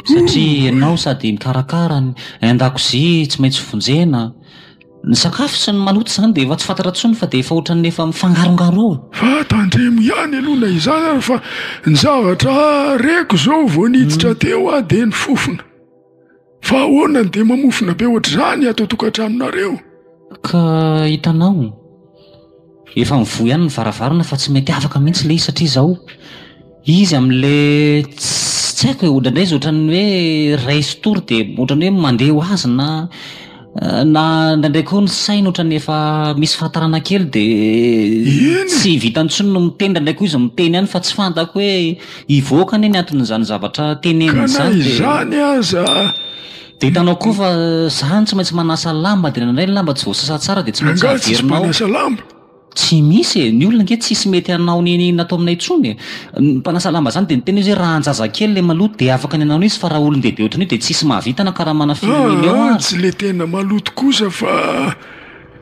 Satria ianao sady mikarakara ny an-dakozia tsy maintsy vonjena. Ny sakafo sy ny maloto izany dia efa tsy fantatra intsony fa dia efa ohatran'ny efa mifangarongaroa. Fa tandremo ihany aloha na izany ary fa ny zavatra reko izao vao niditra teo aho dia ny fofona. Fa ahoana no dia mamofona be ohatr'izany ato an-tokantranonareo? Ka hitanao, efa mivoha ihany ny varavarana fa tsy mety afaka mihitsy ilay izy satria izao izy amin'ilay tsy haiko e, ohatr'indray izy ohatran'ny hoe raiso tory dia ohatran'ny hoe mandeha ho azy na. na indraindray koa ny saina ohatrany efa misy fahatarana kely de tsy vitany tsony no miteny indraindray koa izy miteny ihany fa tsy fantako hoe hivoaka anie ny anton'izany zavatra teneniny izany de izany aza de hitanao koa fa zany tsy maintsy manasa lamba de indraindray ny lamba tsy voasasa tsara de tsy maintsy averina ao Tsy misy e, ny olona nge tsisy mety hanao ny iny natao aminay intsony e, ny mpanasa lamba zany de niteny izy hoe raha anjazakely le maloto de afaka ny hanao an'io izy fa raha olondehibe ohatran'io de tsisy mahavita na karamana firy million Aah, ary. tsy le tena maloto kosa fa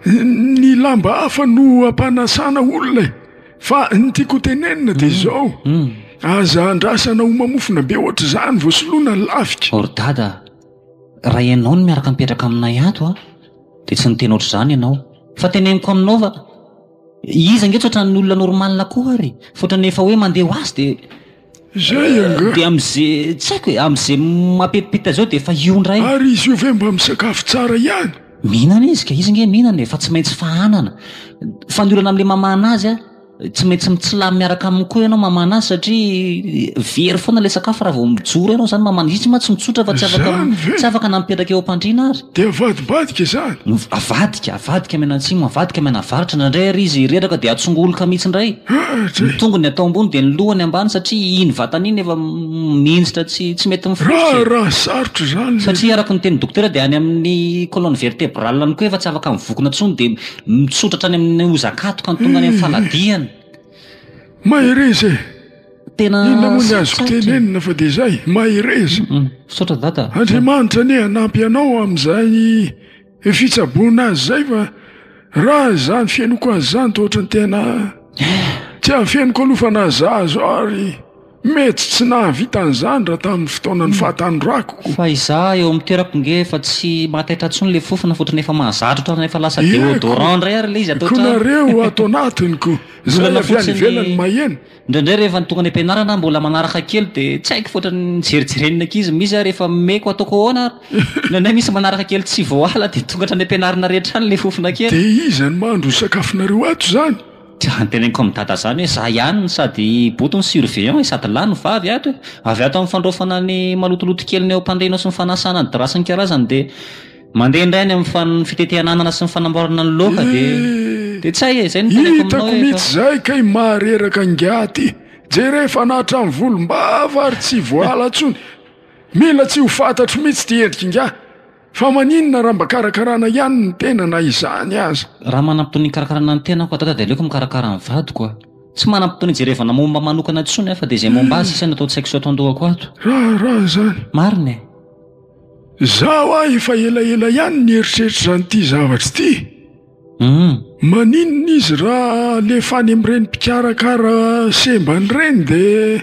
ny lamba hafa no ampanasana olona e! fa ny tiako ho tenenina de zao, aza andrasana homamofona be ohatr'izany vao soloina ny lafika. Or dada a! Raha ianao no miaraka mipetraka aminay ato an, dia tsy niteny ohatr'izany ianao. Fa teneniko aminao fa iza ange tsy ohatran'ny olona normal koa ary. Fa ohatran'ny efa hoe mandeha ho azy dia Izay angaha. dia amin'izay tsy haiko e, amin'izay mapetipita izao dia efa io indray. Ary izy io ve mba misakafo tsara ihany? Mihinana izy ka, izy ange mihinana e, fa tsy maintsy fahanana. Fa ny olana amin'ilay mamahana azy an, tsy maintsy mitsilamy miaraka aminy koa ianao mamana azy satria very foana ilay sakafo raha vao mijoro ianao zany mamana izy tsy mantsy mitsotra fa tsy afaka tsy afaka nampetraka eo am-pandriana ary dia avadibadika izany avadika avadika miana antsimo avadika miana avaratra indraindray ary izy reraka dia atsongoloka mihitsy indray ny tongony atao ambony dia ny lohany ambany satria iny vatana iny efa mihinjitra tsy tsy mety mifoitra raha sarotra izany satria araka ny teny dokotera dia any amin'ny colonne vertébrale any koa efa tsy afaka mivokona intsony dia Mitsotra hatrany amin'ny hozakatoka ny tongany amin'ny fanadihana. Mahereza e! Tena sarotra. Inona moa ny azoko tenenina fa dia izay, mahereza. Misaotra Dada. Andriamanitra anie hanampy anao amin'izay fitsaboana azy izay fa raha izany fenoko azy izany dia ohatran'ny tena tsy afeniko aloha fa nazahazo ary. Mety tsy nahavita an'izany raha tamin'ny fotoanan'ny fahatanorako. Fa izaho eo amin'ny toerako nge efa tsy mahataitra intsony ilay fofona fotony efa mahazatra otrany efa lasa deodorant indray ary ilay izy ato an-trano. Ko nareo ato anatiny ko izay avy any ivelany maheno. Indraindray rehefa ny tonga any am-pianarana aho mbola manaraka kely dia tsy haiko fa otrany nijerijeren'ny ankizy misy ary efa meko ataoko ahoana ary indraindray misy manaraka kely tsy voala dia tonga hatrany am-pianarana rehetra any ilay fofona kely. Dia iza no mahandro ny sakafonareo ato izany? Dia noteneniko amin'i Dada izany hoe za ihany no sady boto ny surveillant e, sady lahy no vavy ato e. Avy ato amin'ny fandraofana ny malotoloto keliny eo am-pandrianao sy ny fanasana ny drap sy ny karazany dia mandeha indray any amin'ny fitetehana anana sy ny fanamboarana ny laoka dia dia tsy hay e, izay no noteneniko aminao hoe efa. Hitako mihitsy izay kay mahareraka ingahy ty. Jereo efa nahatra ny volom-bava ary tsy voala intsony. Mila tsy ho fantatro mihitsy ity endrika ingahy. Fa maninona raha mba karakarana ihany ny tena na izany aza? Raha manam-potoana hikarakarana ny tenako adada dia aleoko mikarakara ny vadiko aho. Tsy manam-potoana hijerevana momba ahy manokana intsony aho fa dia izay momba ahy sisa no atao tsaiko sy ato an-dohako ato. Raharaha izany. Marina e. Izaho aho efa elaela ihany nieritreritra an'ity zavatra ity Humm. Maninona izy raha alefa any amin'ireny mpikarakara sembany ireny dia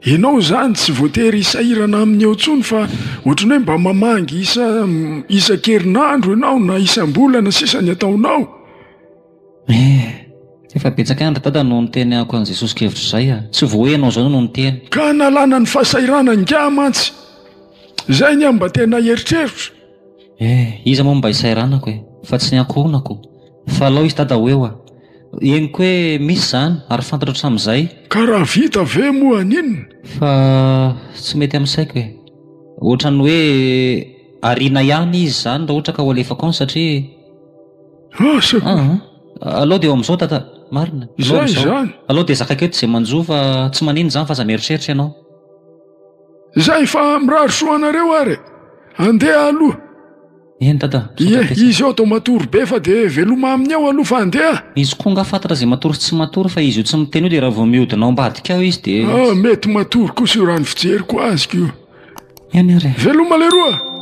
ianao izany tsy voatery hisahirana aminy eo intsony fa ohatran'ny hoe mba mamangy isa isan-kerinandro ianao na isam-bolana sisa ny ataonao? Eh. Efa betsaka andro dada no nitenehako an'i Jesosy kevitra izay a! Tsy vao hoe ianao izao no niteny. Ka nalana ny fahasahiranany ingahy mantsy. Izay ny ahy no mba tena eritreritro. Eh! Iza moa mba isairanako e! Fa tsy ny ankohonako! Fa alao izy dada ho eo ah! Henoko hoe misy izany ary fantatro hatramin'izay. Ka raha vita ve moa an'inona? Fa tsy mety amin'ny saiko e! Ohatran'ny hoe ariana ihany izy izany raha ohatra ka ho alefako any satria. Asa koa! An! Alao dia eo amin'izao dada! Marina! Izay izany! Alao dia zakako eto izay manjo fa tsy maninona izany fa aza mieritreritra ianao. Za efa mirary soa anareo ary e! Andeha aloha! Eny dada, sao Ie, tafiditra. izy eo atao matory be fa dia veloma aminy eo aloha fa andeha! Izy koa nga fantatra izay matory sy tsy matory fa izy io tsy miteny io dia raha vao mihodina ao ambadika ao izy dia. Ah, mety matory kosa io raha ny fijeriko azy ko. Eny ary e! Veloma leroa!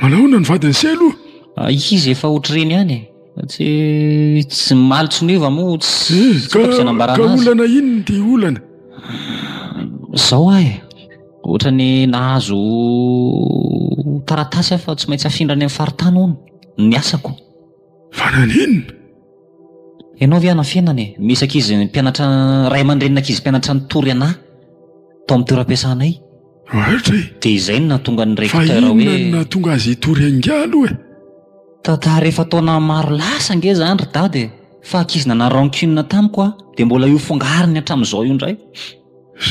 Manahoana ny vadin'i Selo? Ah, izy efa ohatr'ireny ihany e. Tsy tsy maly tsy miova moa tsy eh, ka, ka olana inona ity olana? Zao ahy, ohatra ny nahazo taratasy aho fa tsy maintsy afindra any amin'ny faritany hono ny asako. Fa naninona? Ianao ve hanafenana e? Misy ankizy mpianatra, ray aman-drenin'ankizy mpianatra nitory anà tao amin'ny toeram-piasanay. Raitra e! Dia izay no nahatonga ny recteur hoe. Fa inona no nahatonga azy hitory angaha aloha e? Tantara efa taona maro lasa ange izany ry dada e! Fa ankizy nanà rancune tamiko aho, dia mbola io fongariny hatramin'izao io indray.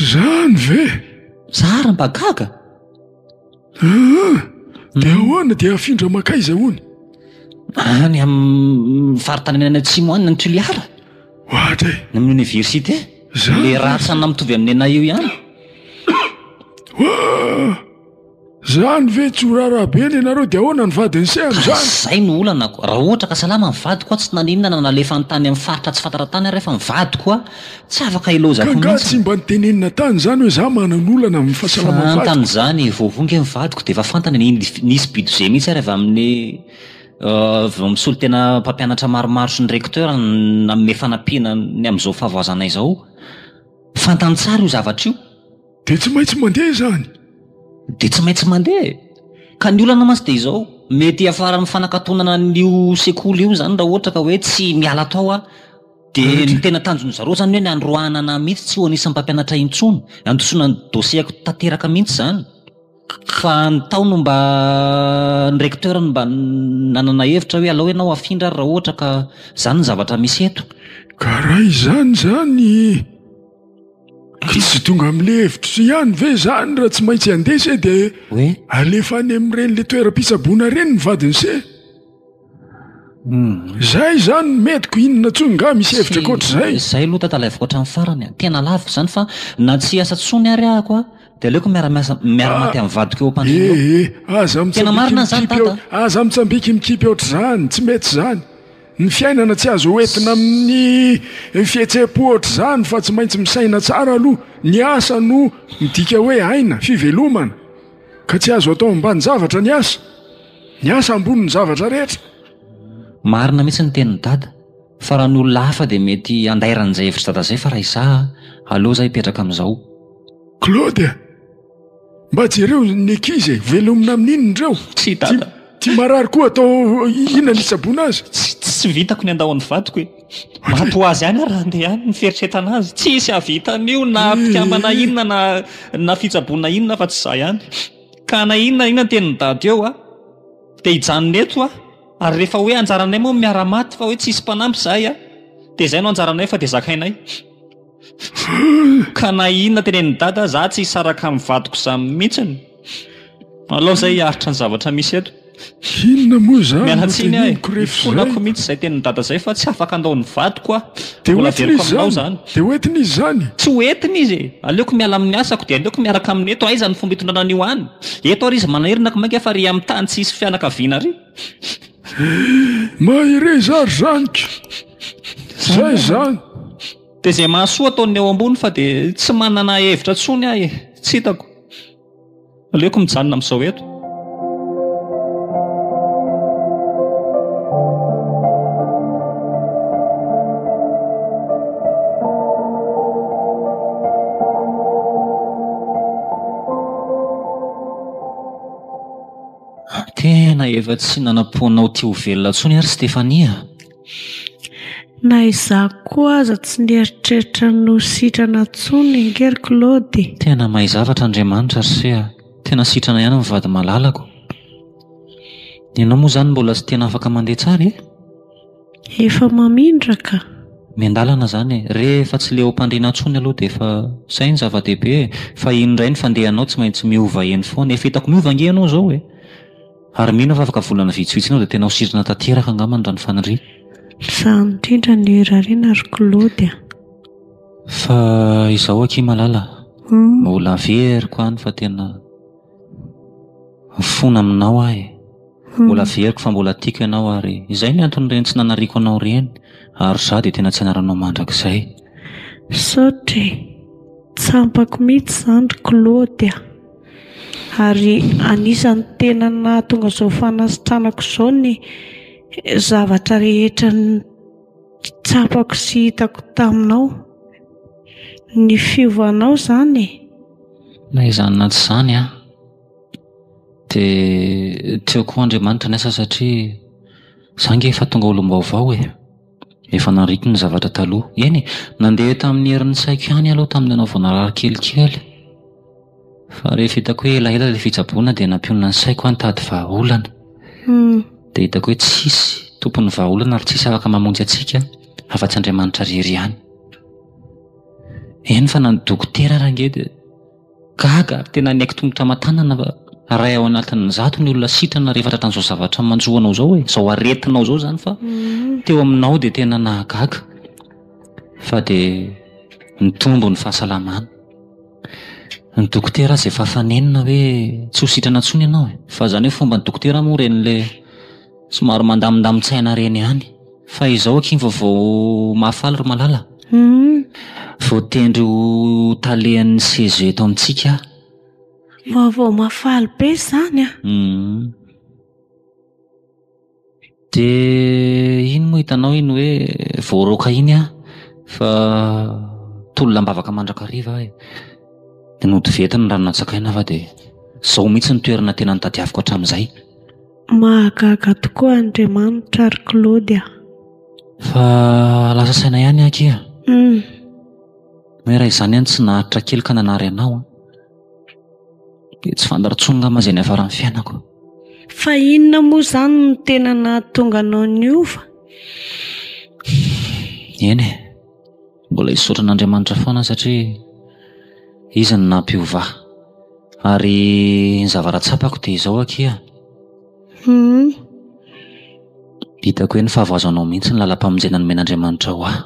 Izany ve? Zara mba gaga! Ah! Dia hmm. ahoana dia afindra makaiza hono? Any amin'ny faritany any atsimo any ny Tuliara. Ohatra e. Ny amin'ny université. Zany. Le ratsana mitovy amin'ny anay io ihany. Zany ve tsy horara be ny anareo dia ahoana ny vadin'ny se amin'izany? Izay no olanako. Raha ohatra ka salama ny vadiko aho tsy naninona na nalefa ny tany amin'ny faritra tsy fantara tany ary efa ny vadiko aho Tsy afaka hilaozako mihitsy. Ka nga tsy mba nitenenina tany zany hoe za manan'olana amin'ny fahasalamam vadiko. Fantany zany vao vongy ny vadiko de efa fantany ny nisy budget mihitsy ary avy amin'ny vao misolo tena mpampianatra maromaro sy ny recteur nanome fanampiana ny amin'izao fahavoazana izao. Fantany tsara io zavatra io. De tsy maintsy mandeha zany. De tsy maintsy mandeha e! Ka ny olana mantsy de izao, mety hiafara amin'ny fanakatonana an'io sekoly io zany raha ohatra ka hoe tsy miala tao aho. Dia ny tena tanjon'i zareo zany hoe ny androahana anah mihitsy tsy ho anisan'ny mpampianatra intsony, handosona ny dossier-ko tanteraka mihitsy zany. Fa ny tao no mba ny recteur no mba nanana hevitra hoe alao ianao afindra ary raha ohatra ka zany ny zavatra misy eto. Ka raha izany zany, ka tsy tonga amle hevitro ihany ve zany raha tsy maintsy andeha se dia alefa any amin'ireny le toeram-pitsaboana ireny ny vadiny se? Zay zany ny metiko inona tsony nga misy hevitra akoatr'izay? Zay lo tatalaiviko hatram farany a! Tena lavo zany fa na tsy hiasa tsony ary ahako a de aleoko miara-miasa miara-maty am vadiko eo ampandriana eo. Ee aza mitsambiki mikipy eo aza mitsambiki mikipy ohatr'izany, tsy mety zany. Ny fiainana tsy azo hoentina amin'ny fihetsem-po ohatr'izany fa tsy maintsy misaina tsara aloha, ny asa no midika hoe aina, fivelomana, ka tsy azo atao ambanin-javatra ny asa. Ny asa ambonin'ny zavatra rehetra. Marina mihitsy ny tenin'i dada, fa raha ny olona hafa dia mety handairana izay hevitr'i dada izay fa raha izaho a, aleo izaho hipetraka amin'izao. Claude a! Mba jereo ny ankizy e, velomina amin'inona ireo? Tsia dada. Ity marary koa atao inona ny hitsaboana azy? Tsy vitako ny handao an'ny vadiko e! Maty ho azy any ary handeha any ny fieritreretana azy. Tsisy hahavita an'io na mpikambana inona na na fitsaboana inona afa-tsy izaho ihany. Ka na inona na inona ny tenin'i Dada eo a, dia hijanona eto a, ary rehefa hoe anjaranay moa miara maty fa hoe tsisy mpanampy izahay a, dia izay no anjaranay fa dia zakainay. Ka na inona tenenin'i Dada, izaho tsy hisaraka amin'ny vadiko izany mihitsy. Alao izahay hiaritra ny zavatra misy eto. Inona moa izany Miala no tsiny aho e. teneniko rehefa izay? Ifonako mihitsy izay tenin'i Dada izay fa tsy afaka handao ny vadiko aho. Dia Mbola hoentiny averiko izy aminao izany? izany. Dia hoentiny izy izany? Tsy hoentiny izy e! Aleoko miala amin'ny asako dia aleoko miaraka aminy eto. Aiza ny fomba hitondrana an'io any? Eto ary izy manana irina ko mainka fa ry amin'ny tany tsy hisy fianakaviana ry. Mahereza ary zaniko. Izay izany. Dia izay mahasoa ataon'ny eo ambony fa dia tsy manana hevitra intsony aho e. Tsy hitako. Aleoko mijanona amin'izao eto. Tena efa tsy nanam-poanao te ho velona intsony ary Stephanie a! Na izaho koa aza tsy nieritreritra ny ho sitrana intsony ange ry Claude e! Tena mahay zavatra Andriamanitra ry se a! Tena sitrana ihany ny vady malalako. Ianao moa izany mbola tsy tena afaka mandeha tsara e? Efa mamindra ka! Miandalana izany e! Rehefa tsy leom-pandriana intsony aloha dia efa izay no zava-dehibe e! Fa iny indray ny fandehanao tsy maintsy miova eny foana. Efa hitako miova ange ianao izao e! Ary mino aho fa afaka volana vitsivitsy enao dia tena ho sitrana tanteraka angamba ny ranofaniriana. Misaha indrindra ny hirariana ry Claude a! Fa izao akia malala mbola averiko any fa tena mifona aminao aho e! Mbola averiko fa mbola tiako ianao ary izay ny anton'ireny tsy nanariako anao ireny ary izaho dia tena tsy hanaranao mandrakizay. Misaotra e! Tsy ampako mihitsy izany ry Claude a! Ary anisan'ny tena nahatonga izao fanasitranako izao ny zavatra rehetra nitsapako sy hitako taminao. Ny fiovanao izany e. Na izany na tsy izany an, dia tiako koa Andriamanitra ny asa satria izaho ange efa tonga olom-baovao e. Efa nariko ny zavatra taloha. Eny e, nandeha tamin'ny herin'ny saiko ihany aloha tamin'ny ianao vao narary kelikely. Fa rehefa hitako hoe elaela ilay fitsaboana dia nampionona ny saiko aho nitady vahaolana. Dia hitako hoe tsisy tompon'ny vahaolana ary tsisy afaka mamonjy antsika afa-tsy Andriamanitra irery ihany. Eny fa na ny dokotera ary ange dia. Gaga ary tena niaiky tongotra aman-tanana iray ao anatin'ny zato ny olona sitrana rehefa tratra an'izao zavatra manjo anao izao e, izao aretinao izao izany fa teo aminao dia tena nahagaga fa dia nitombo ny fahasalamana. Ny dokotera aza efa fanenina hoe tsy ho sitrana intsony ianao e, fa izany hoe fomban'ny dokotera moa ireny ilay somary mandamindamin-tsaina ireny ihany. Fa izao akia vaovao mahafaly ry Malala a! Voatendry ho talehan'ny CEG eto amintsika aho. Vaovao mahafaly be izany a! Dia iny moa hitanao iny hoe voaroaka iny aho fa tolona am-bavaka mandrakariva aho e! Dia nody venty ny rano nantsakaina aho fa dia izao mihitsy no toerana tena nitadiaviko hatramin'izay. Mahagaga tokoa Andriamanitra ry Claude a! Fa lasa saina ihany aky a! Hum. Hoe raha izany any tsy naharitra kely ka nanary anao an! Dia tsy fantatra intsony angamba izay niafaran'ny fiainako. Fa inona moa izany no tena nahatonga anao niova? Eny e! Mbola hisaotra an'Andriamanitra foana satria Izy no nampiovà. Ary ny zavatra tsapako dia izao akia an, hitako hoe ny fahavoazanao mihitsy ny lalam-pamonjena nomen'Andriamanitra ho ahy.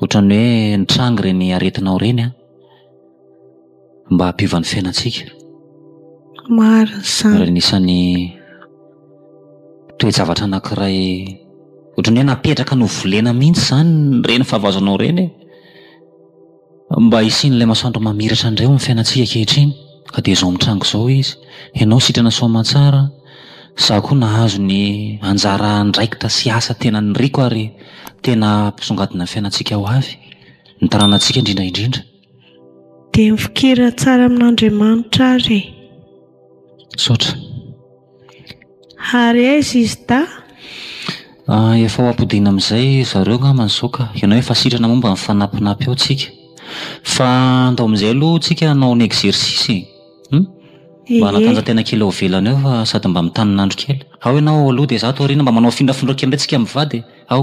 Ohatran'ny hoe nitranga ireny aretinao ireny an. mba hampiova ny fiainantsika marina izany ary anisan'ny toe-javatra anankiray ohatran'ny hoe napetraka novolena mihitsy izany ireny fahavazanao ireny e mba hisian'ilay masoandro mamiratra indray ao amin'ny fiainantsika ankehitriny ka dia izao mitranga izao izy ianao sitrana soamantsara izaho koa nahazo ny anjara andraikitra sy asa tena niriko ary tena hampisongadina ny fiainantsika ho avy ny taranantsika indrindra indrindra Dia mifikira tsara amin'Andriamanitra ary e. Misaotra. Ary aiza izy Da? Ah, efa ho ampodiana amin'izay zareo angamba izao ka. Ianao efa sitrana momba ny fanampinapy ao tsika. Fa andao amin'izay aloha tsika hanao ny exercice e. Hum? Mba hanatanjantena kely ao ivelany ao fa sady mba mitanina andro kely. Ao ianao ao aloha dia izaho ato aoriana. Mba manao afindrafindra kely indray tsika mivady e. Ao.